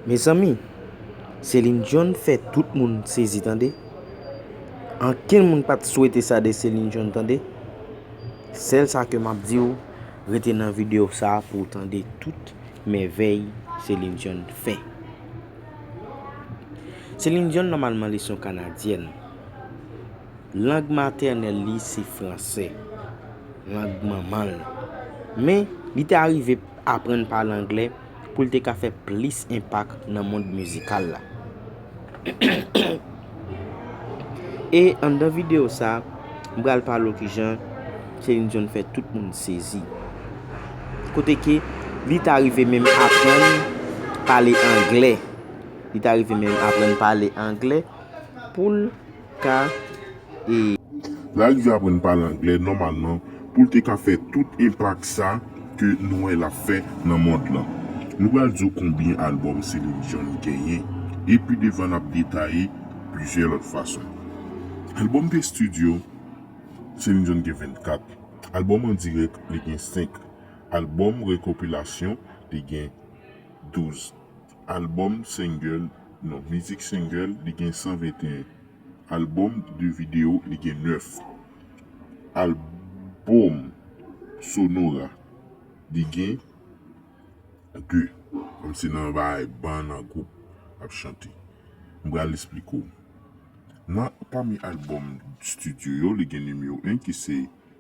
Mezanmi! Céline Dion fè tout moun sezi tande! Ankenn moun pa t swete sa de Céline Dion tande! Sèl sa ke m ap di w, rete nan videyo sa pou w tande tout mèvèy Céline Dion fè. Céline Dion nòmalman li s yon kanadyèn. Lang matènèl li se fransè. Lang manman l. Men, li te arive aprann pale anglè. pou l te ka fè plis enpak nan mond mizikal la. E anndan videyo sa, m pral pale w kijan Céline Dion fè tout moun sezi. Kote ke li ta rive menm aprann pale angle. Li ta rive menm aprann pale angle pou l K. La rive aprann pale anglè nòmalman pou l te ka fè tout enpak sa ke nou wè l ap fè nan mond lan. Nou pral di w konbyen albòm Celine Dion li genyen e pi devan n ap detaye plizyè lòt fason. Albòm de stidyo, Celine Dion gen 24, albòm an dirèk li gen 5, albòm rekopilasyon li gen 12. Albòm Single Non mizik Single li gen 121 Albòm de videyo li gen 9 Albòm Sonora li gen 2 Kòm se nan yon bagay ban nan gwoup ap chante M pral esplike w Nan pami Albòm Studio yo li gen nimewo 1 ki se.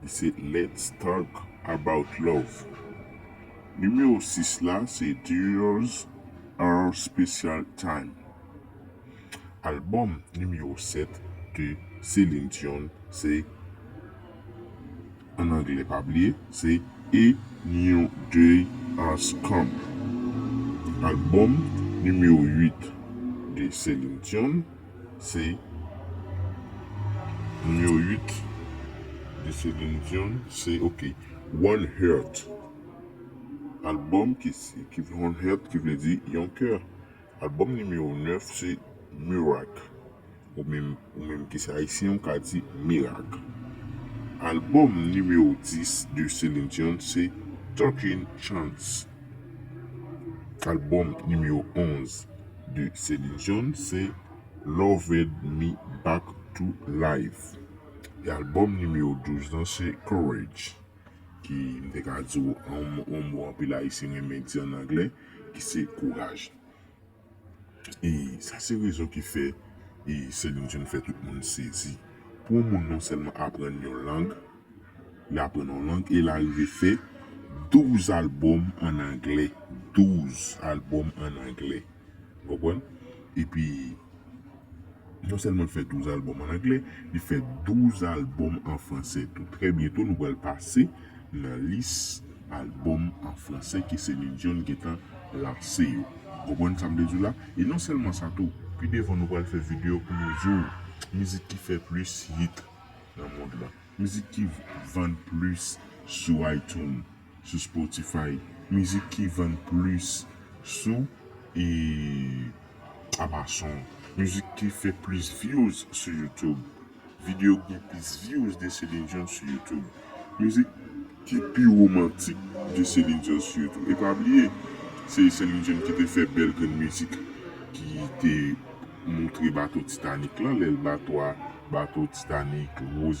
Li se Let's Talk About Love. Nimewo 6 la se Tears Our Special Time. Albòm nimewo 7 de Celine Dion se, an anglè pa bliye, se A New Day Has Come. Albòm nimewo 8 de Celine Dion Se Nimewo 8 de Celine Dion se ok One Heart Albòm ki One Heart ki vle di yon kè Albòm nimewo 9 se Mirak Ou menm ki se ayisyen ou ka di mirak Albòm nimewo 10 de Celine Dion se Talking Chance Albòm nimewo 11. de Céline John se Loved Me Back to Life e albòm nimewo 12 lan se Courage ki m te ka di w yon mo anpil ayisyen renmen di an anglè ki se kouraj. E sa se rezon ki fè Céline John fè tout moun sezi. Pou yon moun non sèlman aprann yon lang, Li aprann yon lang e l arive fè 12 albòm ann anglè. 12 albòm ann anglè. Ou konprann? Epi, non sèlman l fè 12 albòm ann anglè, li fè 12 albòm an franse tou. Trè byento nou pral pase nan lis albòm an franse ke Céline Dion gen tan lanse yo. Ou konprann sa m vle di w la? E non sèlman sa tou, pi devan nou pral fè videyo pou nou di w mizik ki fè plis hit. nan mond lan. Mizik ki vann plis sou iTunes, sou Spotify, mizik ki vann plis sou e Amazon, mizik ki fè plis vyouz sou YouTube, video ki gen plis vyouz de Celine Dion sou YouTube. Mizik ki pi romantik de Céline Dion sitou. E pa bliye, se Céline Dion ki te fè bèl grenn mizik ki te moutre bato Titanic lan, lè bato a, bato Titanic, Rose.